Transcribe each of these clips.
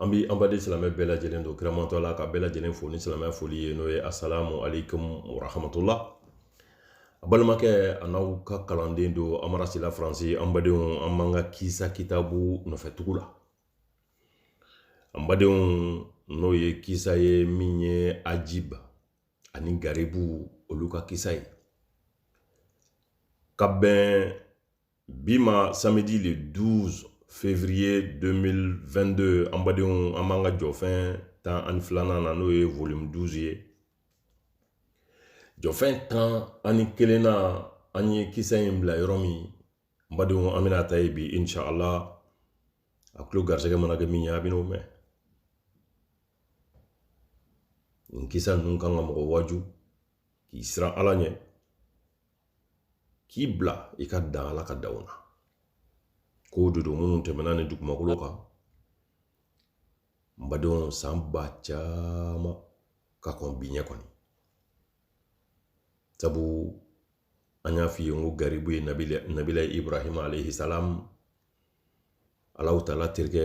an bɛ an baden silamɛ bɛɛ lajɛlen don kiramantɔ la ka bɛɛ lajɛlen fo ni silamɛya foli ye n'o ye asalamu aleykum warahmatula a balimakɛ an'aw ka kalanden don amara sila faransi an badenw an b'an ka kisa kitabu nɔfɛ tugu la an badenw n'o ye kisa ye min ye ajib ani garibu olu ka kisa ye ka bɛn bi ma samedi le 12 février 2022 an badenw an b'an ka jɔfɛn tan ani filanan na n'o ye volume 12 ye jɔfɛn tan ani kelen na an ye kisa in bila yɔrɔ min n badenw an bɛna ta yen bi inshallah a tulo garisɛgɛ mana kɛ min ye a bɛn'o mɛn nin kisa ninnu kan ka mɔgɔ waaju k'i siran ala ɲɛ k'i bila i ka dan ala ka danw na ko dɔw don minnu tɛmɛna nin dugumakolo kan n badenw san ba caman ka kɔn bi ɲɛ kɔni sabu an y'a f'i ye n ko garibu ye nabila ibrahima alayhi salam ala taala terikɛ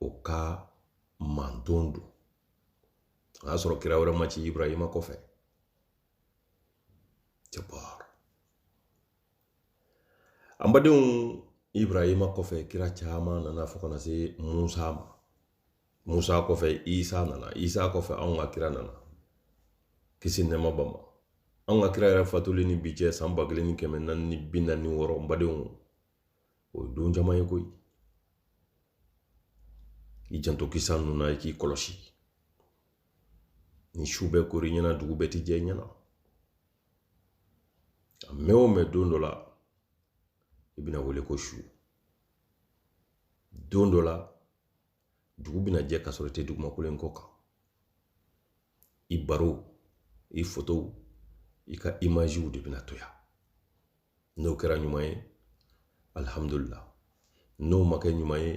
o ka manton don o y'a sɔrɔ kira wɛrɛ ma ci ibrahima kɔfɛ jabar an badenw ibrahima kɔfɛ kira caman nana fo ka na se musa ma musa kɔfɛ isa nana isa kɔfɛ anw ka kira nana kisi nɛɛma b'a ma anw ka kira yɛrɛ fatuli ni bi cɛ san ba kelen ni kɛmɛ naani ni bi naani ni wɔɔrɔ n badenw o ye don caman ye koyi i janto kisa ninnu na i k'i kɔlɔsi ni su bɛɛ kor'i ɲɛna dugu bɛɛ ti jɛ ɲɛna a mɛɛn o mɛɛn don dɔ la i bɛna wele ko su don dɔ la dugu bɛna jɛ ka sɔrɔ i tɛ dugumakolo in kɔ kan i baro i fotow i ka imaziw de bɛna to yan n'o kɛra ɲuman ye alihamudulila n'o ma kɛ ɲuman ye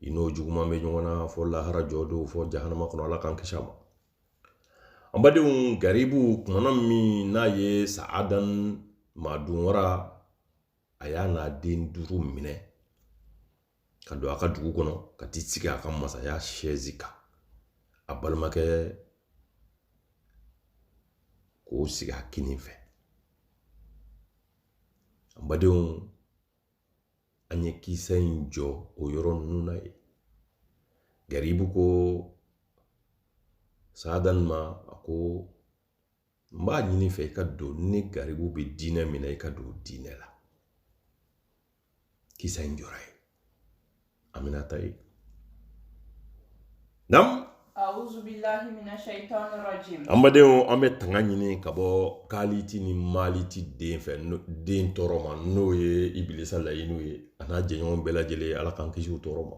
i n'o juguman bɛ ɲɔgɔn na fo lahara jɔ don fo jahanama kɔnɔ ala k'an kisi a ma an badenw garibu kumana min n'a ye saadan maadunwara a y'a n'a den duuru minɛ ka don a ka dugu kɔnɔ ka t'i sigi a ka masaya sɛzi kan a balimakɛ k'o sigi a kinin fɛ an badenw an ye kisa in jɔ o yɔrɔ ninnu na yen garibu ko saadan ma a ko n b'a ɲini i fɛ i ka don ne garibu bɛ diinɛ min na i ka don diinɛ la kisa in jɔra ye aminata ye nam A'udhu billahi minash shaitanir rajim an badenw an bɛ tanga ɲini ka bɔ kaliti ni maliti den fɛ den tɔɔrɔ ma n'o ye ibilisa layinu ye a n'a jɛɲɔgɔn bɛɛ lajɛlen ala k'an kisi u tɔɔrɔ ma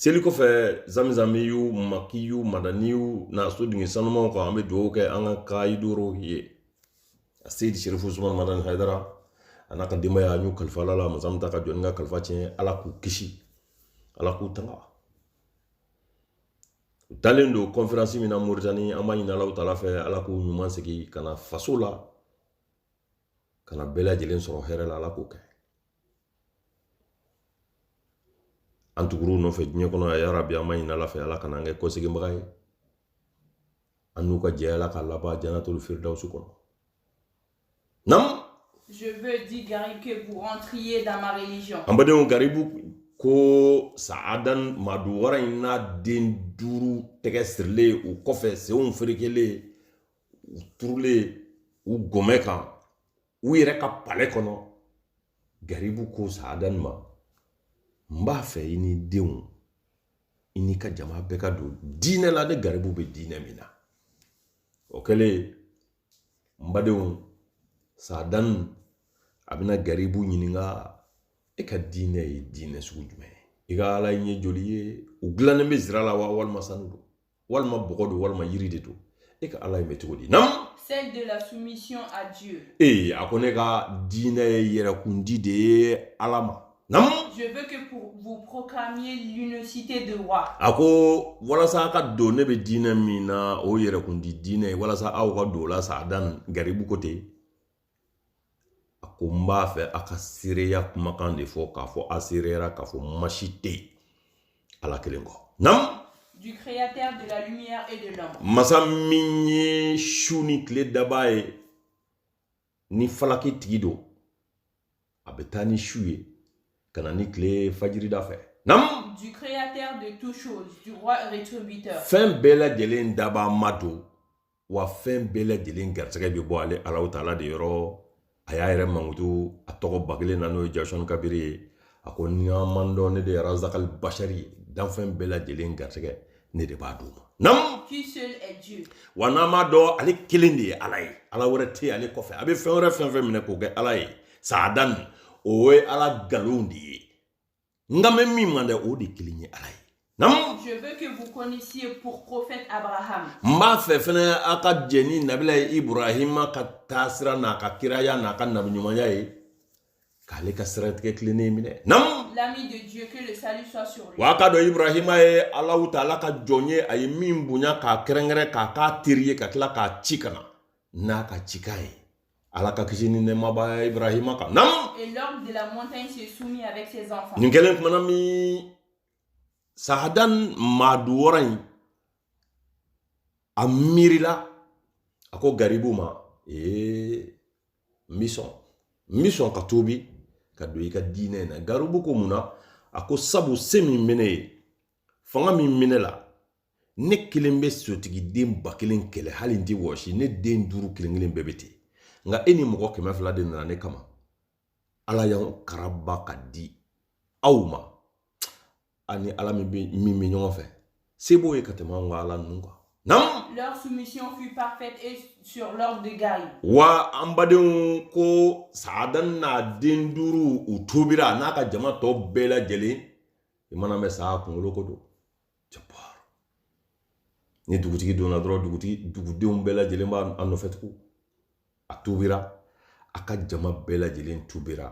seli kɔfɛ zamzamiyu makiyu madaniyu n'a so dingɛ sanumanw kan an bɛ dugawu kɛ an ka kayidoro ye aseyidi sirifu usumani madani hayidara a n'a ka denbaya an y'u kalifa ala la masa min t'a ka jɔni ka kalifa tiɲɛ ala k'u kisi ala k'u tanga u taalen don kɔnferansi min na moritani an b'a ɲini alahu taala fɛ ala k'u ɲuman segin ka na faso la ka na bɛɛ lajɛlen sɔrɔ hɛrɛ la ala k'o kɛ an tugur'u nɔfɛ diɲɛ kɔnɔ a yaa rabi an b'a ɲini ala fɛ ala kana an kɛ kɔseginbaga ye an n'u ka jɛ a la ka laban janatul firidawusu kɔnɔ nam Je veux, dit Garib, que vous rentriez dans ma religion. An badenw Garibu ko Saadan ma don wara in n'a den duuru tɛgɛ sirilen u kɔfɛ senw ferekelen u turulen u gɔmɛ kan u yɛrɛ ka palɛ kɔnɔ garibu ko saadan ma n b'a fɛ i n'i denw i n'i ka jama bɛɛ ka don diinɛ la ne garibu bɛ diinɛ min na o kɛlen n badenw saadan a bɛna garibu ɲininka e ka diinɛ ye diinɛ sugu jumɛn ye i ka ala ye joli ye u dilannen bɛ zira la wa walima sanu don walima bɔgɔ don walima yiri de don e ka ala in bɛ cogo di nam celle de la soumission à Dieu. a ko ne ka diinɛ ye yɛrɛkundi de ye ala ma nam Je veux que vous proclamiez l'unicité de roi. a ko walasa a ka don ne bɛ diinɛ min na o yɛrɛkundi diinɛ ye walasa aw ka don o la saadan garibu ko ten a ko n b'a fɛ a ka seereya kumakan de fɔ k'a fɔ a seereyara k'a fɔ ma si tɛ yen ala kelen kɔ nam du créateur de la lumière et de l'ombre masa min ye su ni tile dabaa ye ni falaki tigi don a bɛ taa ni su ye ka na ni tile fajirida fɛ nam du créateur de toutes choses du roi rétributeur fɛn bɛɛ lajɛlen dabaa ma don wa fɛn bɛɛ lajɛlen garisɛgɛ bɛ bɔ ale alahu taala de yɔrɔ a y'a yɛrɛ mankutu a tɔgɔba kelen na n'o ye jawsan kabiri ye a ko ni a m'a dɔn ne de ye razakali basari ye danfɛn bɛɛ lajɛlen garisɛgɛ ne de b'a d'u ma nam Qui seul est Dieu wa n'an m'a dɔn ale kelen de ye ala ye ala wɛrɛ tɛ ale kɔfɛ a bɛ fɛn wɛrɛ fɛn o fɛn minɛ k'o kɛ ala ye saadan o ye ala nkalon de ye nka mɛn min ma dan o de kelen ye ala ye nam je veux que vous connaissiez pour prophète abraham n b'a fɛ fɛnɛ a ka jɛn ni nabilayi ibrahima ka taasira n'a ka kiraya n'a ka nabiɲumanya ye k'ale ka siratigɛ tilennen minɛ nam l'ami de dieu que le salut soit sur lui wa k'a dɔn ibrahima ye alahu taala ka jɔn ye a ye min bonya k'a kɛrɛnkɛrɛn k'a k'a teri ye ka tila k'a ci ka na n'a ka cikan ye ala ka kisi ni nɛɛma b'a ibrahima kan nam et l'ogre de la montagne se soumit avec ses enfants nin kɛlen kumana min saadan maadun wara in a miirila a ko garibu ma ee n bi sɔn n bi sɔn ka tubi ka don i ka diinɛ na garibu ko mun na a ko sabu se min bɛ ne ye fanga min bɛ ne la ne kelen bɛ sotigiden ba kelen kɛlɛ hali n tɛ wɔsi ne den duuru kelen kelen bɛɛ bɛ ten nka e ni mɔgɔ kɛmɛ fila de nana ne kama ala y'an karaba k'an di aw ma ani ala min bɛ min bɛ ɲɔgɔn fɛ se b'o ye ka tɛmɛ anw ka ala ninnu kan naamu. leur soumission fut parfaite et sur l'ordre de Garib. wa an badenw ko saadan n'a den duuru u tubira n'a ka jama tɔ bɛɛ lajɛlen i man'a mɛn sa kunkolo ko don. jabaa ni dugutigi donna dɔrɔn dugudenw bɛɛ lajɛlen b'a a nɔfɛ tugun a tubira a ka jama bɛɛ lajɛlen tubira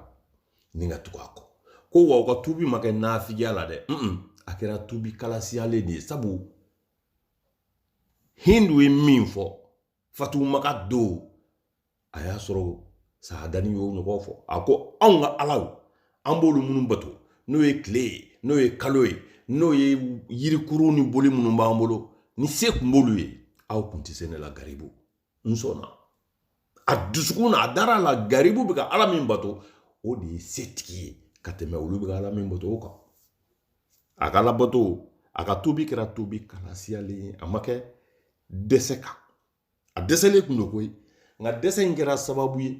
ni ka tugu a kɔ ko wa u ka tubi ma kɛ nafigiya la dɛ a kɛra tubi kalasiyalen de ye sabu hindu ye min fɔ fatu maka don a y'a sɔrɔ saadani y'o ɲɔgɔn fɔ a ko anw ka alaw an b'olu minnu bato n'o ye tile ye n'o ye kalo ye n'o ye yirikuru ni boli minnu b'an bolo ni se kun b'olu ye aw kun tɛ se ne la garibu n sɔnna a dusukun na a dara a la garibu bɛ ka ala min bato o de ye setigi ye ka tɛmɛ olu bɛ ka ala min bato o kan a ka ala bato a ka tubi kɛra tubi kalasiyalen ye a ma kɛ dɛsɛ kan a dɛsɛlen kun don koyi nka dɛsɛ in kɛra sababu ye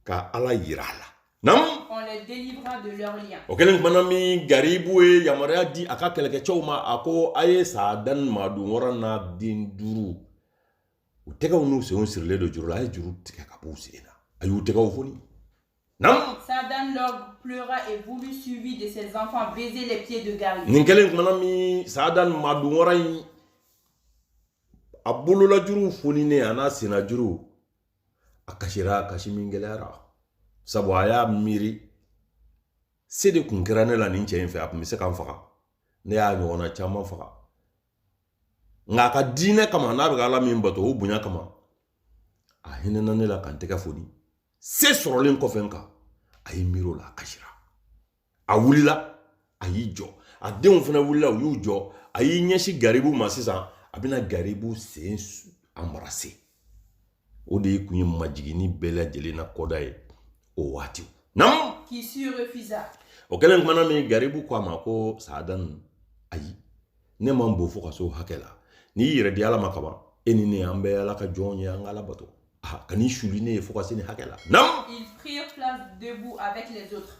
ka ala yira a la naamu on les délivra de leurs liens o kɛlen kumana min garibu ye yamaruya di a ka kɛlɛkɛcɛw ma a ko a ye saadan maadun wara n'a den duuru u tɛgɛw n'u senw sirilen don juru la a ye juru tigɛ ka b'u sen na a y'u tɛgɛw foni Nam. Saadan l'ogre pleura et voulut suivi de ses enfants baiser les pieds de Garib. Nin kɛlen kumana min Saadan maadun wara in a bololajuru foninen an'a sennajuru a kasira kasi min gɛlɛyara sabu a y'a miiri se de kun kɛra ne la nin cɛ in fɛ a kun bɛ se ka n faga ne y'a ɲɔgɔnna caman faga nka a ka diinɛ kama n'a bɛ ka ala min bato o bonya kama a hinɛna ne la ka n tɛgɛ foni se sɔrɔlen kɔfɛ n kan a y'i miiri o la a kasira a wulila a y'i jɔ a denw fana wulila u y'u jɔ a y'i ɲɛsin garibu ma sisan a bɛna garibu sen embrasser o de kun ye majiginni bɛɛ lajɛlen na kɔda ye o waati nam qui s'y refusa o kɛlen kumana min garibu ko a ma ko saadani ayi ne man bon fo ka s'o hakɛ la n'i yɛrɛ di ala ma kaban e ni ne an bɛ ala ka jɔnw ye an ka ala bato ah, kan'i suli ne ye fo ka se nin hakɛ la nam ils prirent place debout avec les autres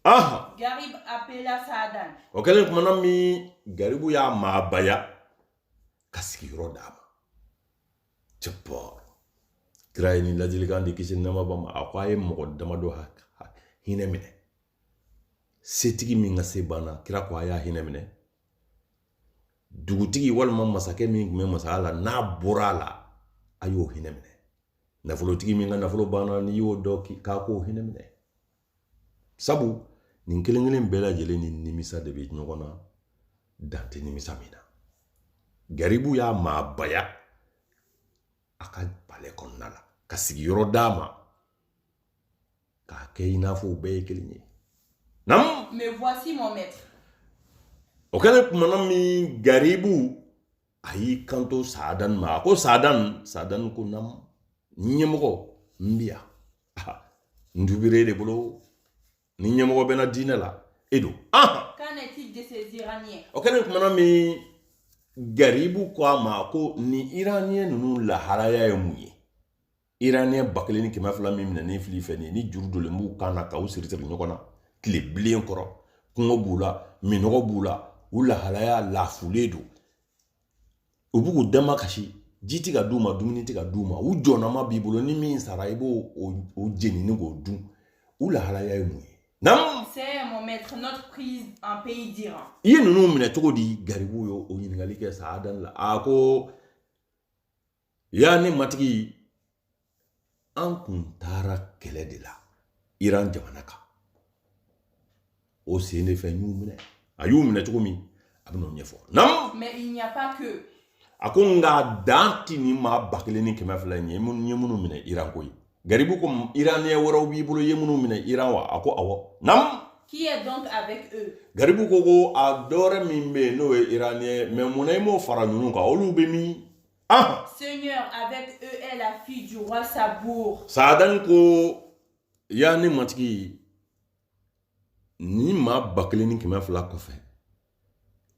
aha garib appela saadan o kɛlen kumana min garibu y'a maabaya ka sigiyɔrɔ d'a ma c'est pour kira ye nin ladilikan de ki silama bɛɛ ma a ko a ye mɔgɔ damadɔ hinɛ minɛ setigi min ka se banna kira ko a y'a hinɛ minɛ dugutigi walima masakɛ min tun bɛ masaya la n'a bɔra a la a y'o hinɛ minɛ nafolotigi min ka nafolo banna n'i y'o dɔn k'a k'o hinɛ minɛ sabu nin kelen kelen bɛɛ lajɛlen ni nimisa de bɛ ɲɔgɔn na dan tɛ nimisa min na garibu y'a maabaya a ka palais kɔnɔna la ka sigiyɔrɔ d'a ma k'a kɛ i n'a fɔ u bɛɛ ye kelen ye naamu mais voici mon maître o kɛlen kumana min garibu a y'i kanto saadan ma a ko saadan saadan ko naamu ɲɛmɔgɔ n bi yan n dubire de bolo ni ɲɛmɔgɔ bɛ n na diinɛ la e don qu'en est-il de ces iraniens o kɛlen kumana min garibu ko a ma ko nin iraniyɛn ninnu lahalaya ye mun ye iraniyɛn ba kelen ni kɛmɛ fila min minɛnen fil'i fɛ nin ye ni juru donlen b'u kan na k'aw siri siri ɲɔgɔn na tile bilen kɔrɔ kɔngɔ b'u la minnɔgɔ b'u la u lahalaya lafulen don u b'u k'u dama kasi ji ti ka d'u ma dumuni ti ka d'u ma u ɲɛnama b'i bolo ni min sara i b'o o jenini k'o dun u lahalaya ye mun ye Nam C'est mon maître, notre prise en pays d'Iran. I ye ninnu minɛ cogo di garibu ye o ɲininkali kɛ saadani la a ko yaa ne matigi an kun taara kɛlɛ de la iran jamana kan o sen de fɛ n y'u minɛ a y'u minɛ cogo min a bɛn'o ɲɛfɔ nam mais il n'y a pas que a ko nka dan ti nin maa ba kelen ni kɛmɛ fila in ye n ye minnu minɛ iran koyi garibu ko iraniyɛ wɛrɛw b'i bolo i ye minnu minɛ iran wa a ko awɔ nam qui est donc avec eux garibu ko ko a dɔwɛrɛ min bɛ yen n'o ye iraniyɛ mais mun na i m'o fara ninnu kan olu bɛ min Ah. Seigneur, avec eux est la fille du roi Sabour. Saadan ko ya ne matigi ni maa ba kelen ni kɛmɛ fila kɔfɛ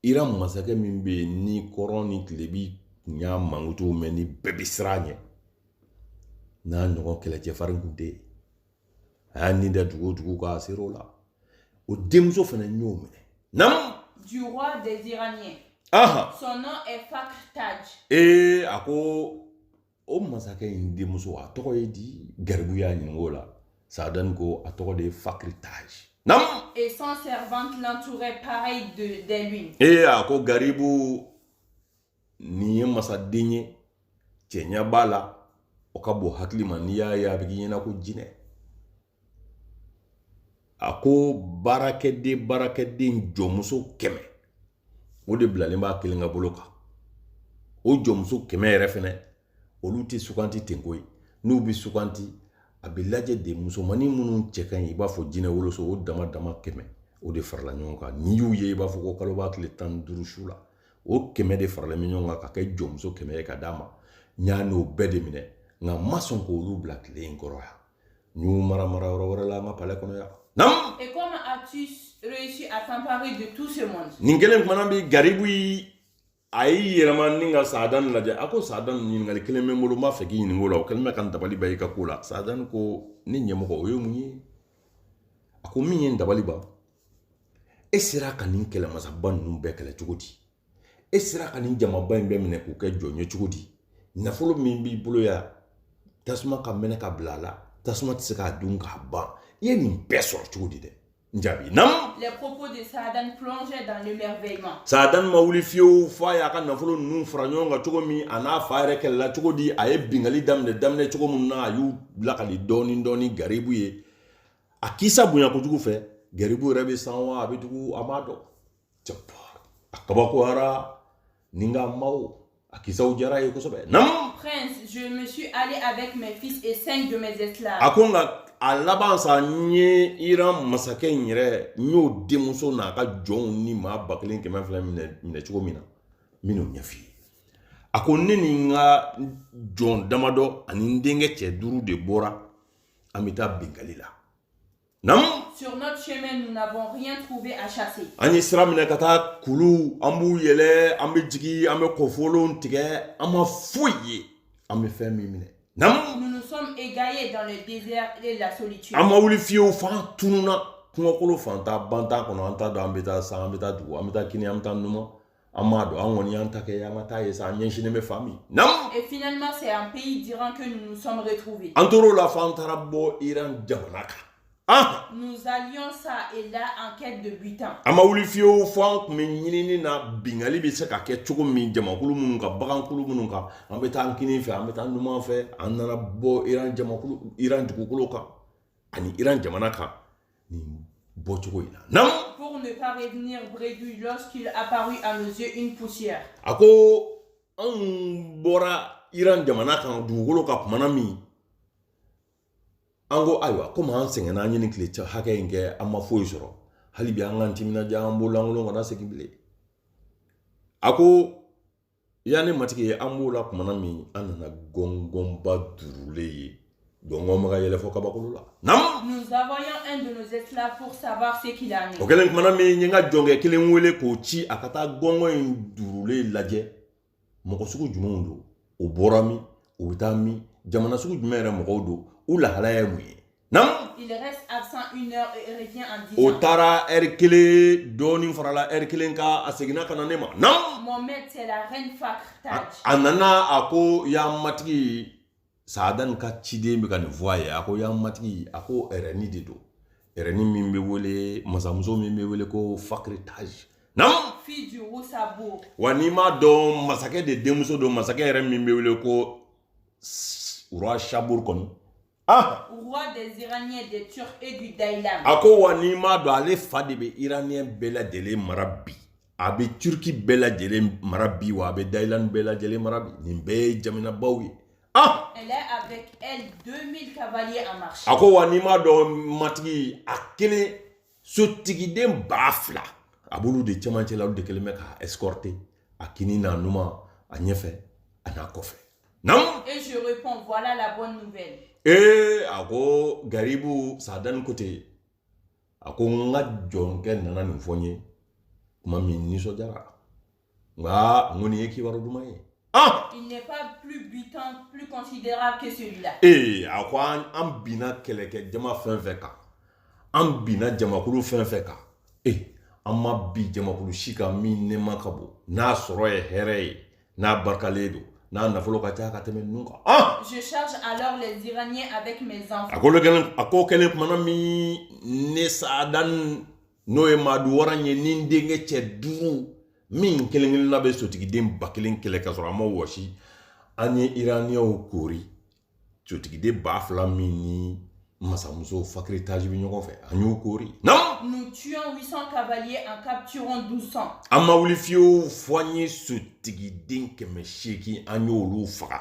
iran masakɛ min bɛ yen ni kɔrɔn ni tilebi kun y'a mankutu mɛn ni bɛɛ bɛ siran a ɲɛ n'a ɲɔgɔn kɛlɛcɛfarin kun tɛ yen a y'a nin da dugu o dugu kan a sera o la o denmuso fana y'o minɛ naamu du roi des Iraniens. aha Son nom est Fakhr Taj. ee a ko o masakɛ in denmuso a tɔgɔ ye di garibu y'a ɲininka o la saadani ko a tɔgɔ de ye fakiri taji naamu Et son servante l'entourait pareil de, des lunes. ee a ko garibu nin ye masaden ye cɛɲa b'a la o ka bon hakili ma n'i y'a ye a bɛ k'i ɲɛna ko jinɛ a ko baarakɛden baarakɛden jɔnmuso kɛmɛ o de bilalen b'a kelen ka bolo kan o jɔnmuso kɛmɛ yɛrɛ fɛnɛ olu tɛ suganti ten koyi n'u bɛ suganti a bɛ lajɛ de musomannin minnu cɛ ka ɲi i b'a fɔ jinɛ woloso o dama dama kɛmɛ o de farala ɲɔgɔn kan n'i y'u ye i b'a fɔ ko kalo b'a tile tan ni duuru su la o kɛmɛ de farala ɲɔgɔn kan ka kɛ jɔnmuso kɛmɛ ye ka d'a ma n y'a n'o bɛɛ de minɛ nka n ma sɔn k'olu bila tile in kɔrɔ yan n y'u mara mara yɔrɔ wɛrɛ la an ka palɛ kɔnɔ yan naamu Et comment as-tu réussi à t'emparer de tout ce monde nin kelen kumana bɛ garibu a y'i yɛlɛma ni ka saadani lajɛ a ko saadani ɲininkali kelen bɛ n bolo n b'a fɛ k'i ɲininka o la o kɛlen bɛ ka n dabali ban i ka ko la saadani ko ne ɲɛmɔgɔ o ye mun ye a ko min ye n dabali ban e sera ka nin kɛlɛmasaba ninnu bɛɛ kɛlɛ cogo di e sera ka nin jamaba in bɛɛ minɛ k'u kɛ jɔn ye cogo di nafolo min b'i bolo yan tasuma ka mɛnɛ ka bila a la tasuma tɛ se k'a dun k'a ban i ye nin bɛɛ sɔrɔ cogo di dɛ jaabi nam les propos de Saadan plongeaient dans l'émerveillement Saadan ma wuli fiyewu f'a y'a ka nafolo ninnu fara ɲɔgɔn kan cogo min a n'a fa yɛrɛ kɛlɛla cogo di a ye bingali daminɛ daminɛ cogo min na a y'u lakali dɔɔni dɔɔni garibu ye a kisa bonya kojugu fɛ garibu yɛrɛ bɛ san wa a bɛ dugu a m'a dɔn a kabakoyara ni ka maw a kisaw diyara a ye kosɛbɛ nam Prince, je me suis allé avec mes fils et cinq de mes esclaves. a ko nka a laban sa n ye iran masakɛ in yɛrɛ n y'o denmuso n'a ka jɔnw ni maa ba kelen kɛmɛ fila minɛ minɛ cogo min na n bɛn'o ɲɛf'i ye a ko ne ni n ka jɔn damadɔ ani n denkɛ cɛ duuru de bɔra an bɛ taa bingali la Sur notre chemin, nous n'avons rien trouvé à chasser. An ye sira minɛ ka taa kulu, an b'u yɛlɛ, an bɛ jigin, an bɛ kɔfolon tigɛ, an ma foyi ye. An bɛ fɛn min minɛ. Naamu. Nous nous sommes égaillés dans le désert et la solitude. An ma wuli fiyewu f'an tununna kungokolon fantan bantan kɔnɔ, an t'a dɔn an bɛ taa san, an bɛ taa dugu, an bɛ taa kini, an bɛ taa numan. An m'a dɔn an kɔni y'an ta kɛ an ka taa ye sa an ɲɛsinnen bɛ fan min na Et finalement, c'est en pays d'Iran que nous nous sommes retrouvés. an tor'o la fo an taara bɔ iran jamana kan an Nous allions çà et là en quête de butin. an ma wuli fiyewu fo an kun bɛ ɲinini na bingali bɛ se ka kɛ cogo min jamakulu minnu kan bagankulu minnu kan an bɛ taa an kinin fɛ an bɛ taa an numan fɛ an nana bɔ iran dugukolo kan ani iran jamana kan nin bɔcogo in na naamu pour ne pas revenir bredouilles lorsqu'il apparut à nos yeux une poussière a ko an bɔra iran jamana kan dugukolo kan kumana min an ko ayiwa komi an sɛgɛnna an ye nin tile hakɛ in kɛ an ma foyi sɔrɔ hali bi an k'an timinadiya an bolo lankolon kana segin bilen a ko Ya ne matigi ye an b'o la kumana min an nana gɔngɔnba duurulen ye gɔngɔn bɛ ka yɛlɛ fo kabakolo la Nous envoyons un de nos esclaves pour savoir ce qu'il en est. o kɛlen kumana min n ye n ka jɔnkɛ kelen wele k'o ci a ka taa gɔngɔn in duurulen lajɛ mɔgɔ sugu jumɛnw don o bɔra min u bɛ taa min jamana sugu jumɛn yɛrɛ mɔgɔw don u lahalaya ye mun ye Naamu. Il reste absent une heure et revient en disant. O taara ɛri kelen dɔɔnin farala ɛri kelen kan a seginna ka na ne ma. Naamu. Mon maître c'est la reine Fakhr Taj. A nana a ko ya matigi Saadani ka ciden bɛ ka nin fɔ a ye a ko ya matigi a ko ɛrɛni de don ɛrɛni min bɛ wele masamuso min bɛ wele ko Fakhr Taj. Naamu. Fille du roi Sabour. Wa n'i m'a dɔn masakɛ de denmuso don masakɛ yɛrɛ min bɛ wele ko roi Sabour kɔni. Ah. roi des iraniens des turcs et du dailam a ko wa n'i m'a dɔn ale fa de bɛ iraniyɛn bɛɛ lajɛlen mara bi a bɛ turki bɛɛ lajɛlen mara bi wa a bɛ dailan bɛɛ lajɛlen mara bi nin bɛɛ ye jaminabaw ye ah elle a avec elle 2000 cavaliers en marche a ko wa n'i m'a dɔn matigi a kelen sotigiden ba fila a b'olu de cɛmancɛ la olu de kɛlen bɛ k'a escorter a kini n'a numan a ɲɛfɛ a n'a kɔfɛ naamu et je réponds voilà la bonne nouvelle ee eh, a ko garibu saadani ko ten a ko n ka jɔnkɛ nana nin fɔ n ye tuma min nisɔndiyara nka n ko nin ye kibaru duman ye ah! il n'est pas plus butin plus considérable que celui-là ee a ko an an binna kɛlɛkɛ jama fɛn fɛn kan an binna jamakulu fɛn fɛn kan ee an ma bin jamakulu si kan min nɛɛma ka bon n'a sɔrɔ ye hɛrɛ ye n'a barikalen don n'a nafolo ka ca ka tɛmɛ ninnu kan ah! je charge alors les iraniens avec mes enfants a ko o kɛlen kumana min ne saada n'o ye maadun wara ye ni n denkɛ cɛ duuru min kelen kelenna bɛ sotigiden ba kelen kɛlɛ ka sɔrɔ a ma wɔsi an ye iraniyɛnw koori sotigiden ba fila min ni masamuso fakiritage bɛ ɲɔgɔn fɛ an y'o koori nam nous tuons 800 cavaliers en capturant 1200 an ma wuli fiyewu fo an ye sotigiden kɛmɛ seegin an y'olu faga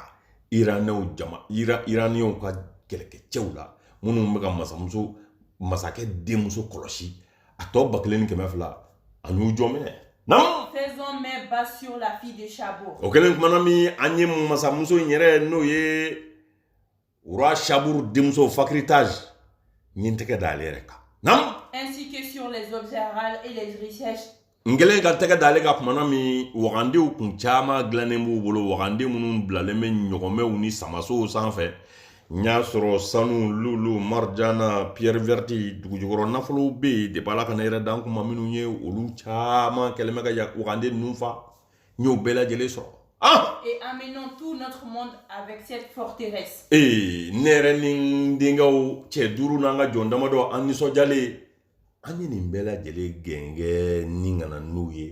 iraniyɛnw jama iraniyɛnw ka kɛlɛkɛcɛw la minnu bɛ ka masamuso masakɛ denmuso kɔlɔsi a tɔ ba kelen ni kɛmɛ fila an y'u jɔn minɛ faisons main basse sur la fille de chabour o kɛlen kumana min an ye masamuso in yɛrɛ n'o ye roi saburu denmuso fakiritage n ye n tɛgɛ da ale yɛrɛ kan n kɛlen ka tɛgɛ da ale kan kumana min wagandew kun caman dilannen b'u bolo wagande minnu bilalen bɛ ɲɔgɔmɛw ni samasow sanfɛ n y'a sɔrɔ sanu lulu marijana pierre verte dugujukɔrɔ nafolow bɛ yen depuis ala ka ne yɛrɛ dan kuma minnu ye olu caman kɛlen bɛ ka wagande ninnu fa n y'o bɛɛ lajɛlen sɔrɔ Ah! Et amenons tout notre monde avec cette forteresse. Ee ne yɛrɛ ni n denkɛw cɛ duuru n'an ka jɔn damadɔ an nisɔndiyalen an ye nin bɛɛ lajɛlen gɛngɛn ni ka na n'u ye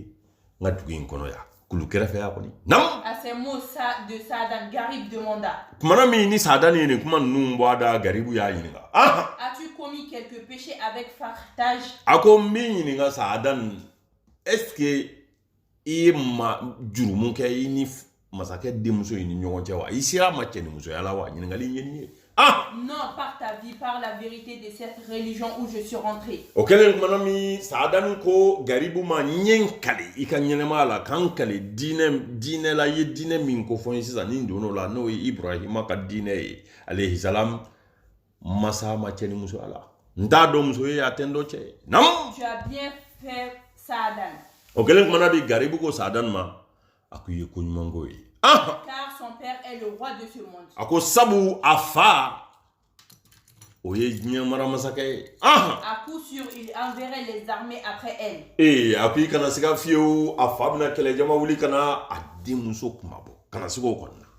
n ka dugu in kɔnɔ yan kulu kɛrɛfɛ yan kɔni nam à ces mots de Sadan Garib demanda kumana min ni Sadan ye nin kuma ninnu bɔ a da Garibu y'a ɲininka ah as-tu commis quelques péchés avec fakiritage a ko n b'i ɲininka Sadan est-ce que i ye ma jurumu kɛ i ni masakɛ denmuso in ni ɲɔgɔn cɛ wa i sera a ma cɛ ni musoya la wa ɲininkali in ye nin ye ah non par ta vie par la vérité de cette religion où je suis rentré o kɛlen kumana min saadani ko garibu ma n ye n kali i ka ɲɛnɛmaya la ka n kali diinɛ diinɛ la i ye diinɛ min kofɔ n ye sisan ni n donn'o la n'o ye ibrahima ka diinɛ ye alayhisalam Masa ma cɛ ni muso ala n t'a dɔn muso ye a tɛ n dɔ cɛ ye na o kɛlen kumana di garibu ko sa dan ma a ko i ye ko ɲumanko ye a ko sabu a fa o ye diɲɛ mara masakɛ ye ee a ko i kana siga fiyewu a fa bɛna kɛlɛjama wuli kana a denmuso kuma bɔ kana sigi o kɔnɔna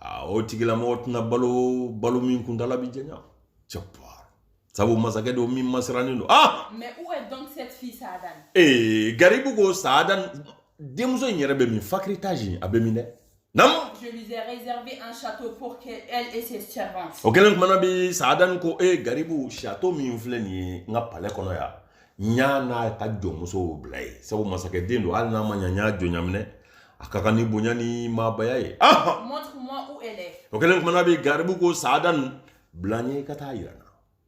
a o tigilamɔgɔ tɛna balo balo min kuntaala bi janya cɛpa sabu masakɛ don min masirannen don ah mais où est donc cette fille Saadan ee garibu ko Saadan denmuso in yɛrɛ bɛ min fakiritage in a bɛ min dɛ nam je lui ai réservé un château pour qu'elle et ses servantes o kɛlen kumana min Saadan ko ee garibu château min filɛ nin ye n ka palais kɔnɔ yan n y'a n'a ka jɔnmusow bila yen sabu masakɛ den don hali n'a ma ɲa n y'a jɔnya minɛ a ka kan ni bonya ni maabaya ye Montre-moi où elle est. o kɛlen kumana bi garibu ko saadani bila n ɲɛ i ka taa yira n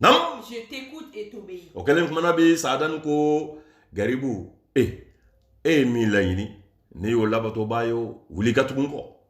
na naamu Je t'écoute et t'obéis. o kɛlen kumana bi saadani ko garibu e e ye min laɲini ne y'o labatobaa ye o wuli ka tugu n kɔ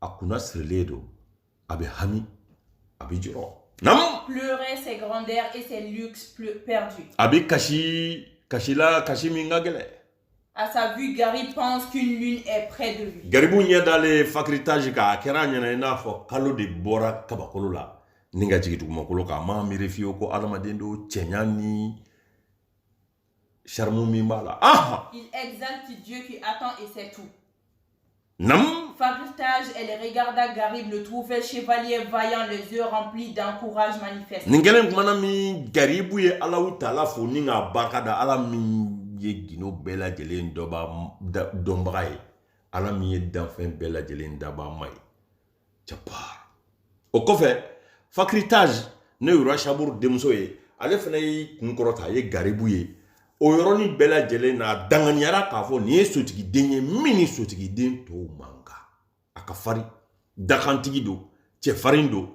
a kunna sirilen don a bɛ hami a bɛ jɔrɔ naamu pleurait ses grandeurs et ses luxes pleu- perdus. a bɛ kasi kasi la kasi min ka gɛlɛn À sa vue, Garib pense qu'une lune est près de lui. garibu ɲɛ dalen fakiritaji kan a kɛra a ɲɛ na i n'a fɔ kalo de bɔra kabakolo la ni ka jigin dugumakolo kan a m'a miiri fiyewu ko adamaden don cɛɲa ni charme min b'a la. Ah Il exalte Dieu qui entend et sait tout. Naamu Fakritage, elle regarda Garib, le trouvait chevalier vaillant, les yeux remplis d'un courage manifeste. Nin kɛlen kumana min Garibu ye Alahu Taala fo ni k'a barika da Ala min ye gundo bɛɛ lajɛlen dɔba dɔnbaga ye Ala min ye danfɛn bɛɛ lajɛlen dabaa ma ye jabaa o kɔfɛ fakiritazi n'o ye roi saburu denmuso ye ale fana y'i kun kɔrɔta a ye garibu ye o yɔrɔnin bɛɛ lajɛlen na a danganiyara k'a fɔ nin ye sotigiden ye min ni sotigiden tɔw man kan a ka farin dakantigi don cɛfarin don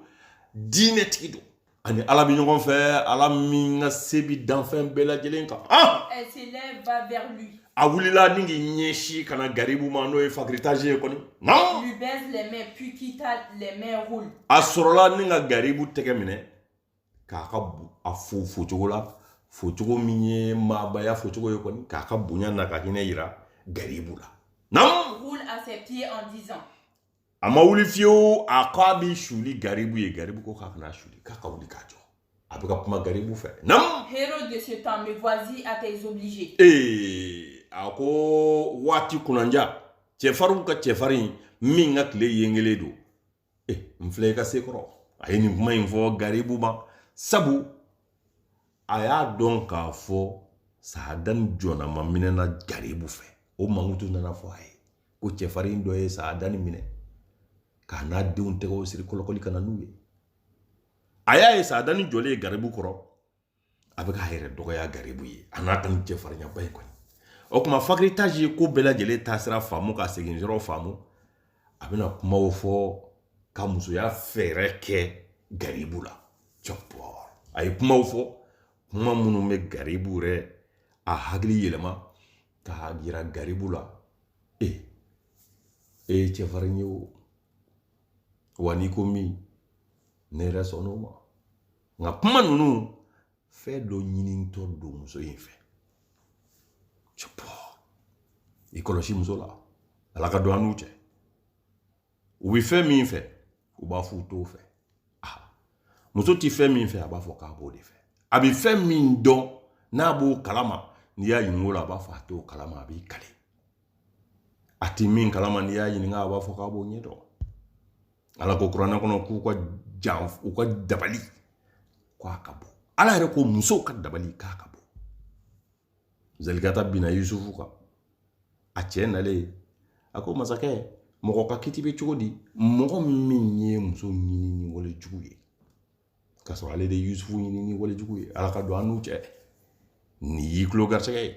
diinɛtigi don a ni ala bɛ ɲɔgɔn fɛ ala min ka se bi danfɛn bɛɛ lajɛlen kan ah! Elle se lève, va vers lui. a wulila ni k'i ɲɛsin ka na garibu ma n'o ye fakiritazi ye kɔni naamu Lui baise les mains, puis quitta les mains, roule. a sɔrɔla ni ka garibu tɛgɛ minɛ k'a ka a fo fo cogo la fo cogo min ye maabaya fo cogo ye kɔni k'a ka bonya n'a ka hinɛ yira garibu la a ma wuli fiyewu a ko a b'i suli garibu ye garibu ko k'a kana suli k'a ka wuli k'a jɔ a bɛ ka kuma garibu fɛ naamu Héros de ce temps, me voici à tes obligés. ee a ko waati kunanja cɛfarinw ka cɛfarin min ka tile yengelen don e n filɛ i ka se kɔrɔ a ye nin kuma in fɔ garibu ma sabu a y'a dɔn k'a fɔ saadani jɔnama minɛna garibu fɛ o mankutu nana fɔ a ye ko cɛfarin dɔ ye saadani minɛ k'a n'a denw tɛgɛw siri kɔlɔkɔli ka na n'u ye a y'a ye saadani jɔlen ye garibu kɔrɔ a bɛ k'a yɛrɛ dɔgɔya garibu ye a n'a ka nin cɛfarinyaba in kɔni o kuma fakiritazi ye ko bɛɛ lajɛlen taasira faamu ka segin yɔrɔ faamu a bɛna kumaw fɔ ka musoya fɛɛrɛ kɛ garibu la cɛpɔ a ye kumaw fɔ kuma minnu bɛ garibu yɛrɛ a hakili yɛlɛma k'a yira garibu la e e ye cɛfarin ye o wa n'i ko min ne yɛrɛ sɔnn'o ma nka kuma ninnu fɛn dɔ ɲinitɔ don muso in fɛ i kɔlɔsi muso la ala ka don an n'u cɛ u bɛ fɛn min fɛ u b'a fɔ u t'o fɛ ah, muso tɛ fɛn min fɛ a b'a fɔ k'a b'o de fɛ a bɛ fɛn min dɔn n'a b'o kalama n'i y'a ɲininka o la a b'a fɔ a t'o kalama a b'i kale a ti min kalama n'i y'a ɲininka a b'a fɔ k'a b'o ɲɛdɔn ala ko kuranɛ kɔnɔ k'u ka jan u ka dabali k'a ka bon ala yɛrɛ ko musow ka dabali k'a ka bon zalikata binna yusufu kan a cɛ nalen a ko masakɛ mɔgɔ ka kiti bɛ cogo di mɔgɔ min y'i muso ɲini ni wale jugu ye k'a sɔrɔ ale de ye yusufu ɲini ni wale jugu ye ala ka don an n'u cɛ nin y'i tulo garisɛgɛ ye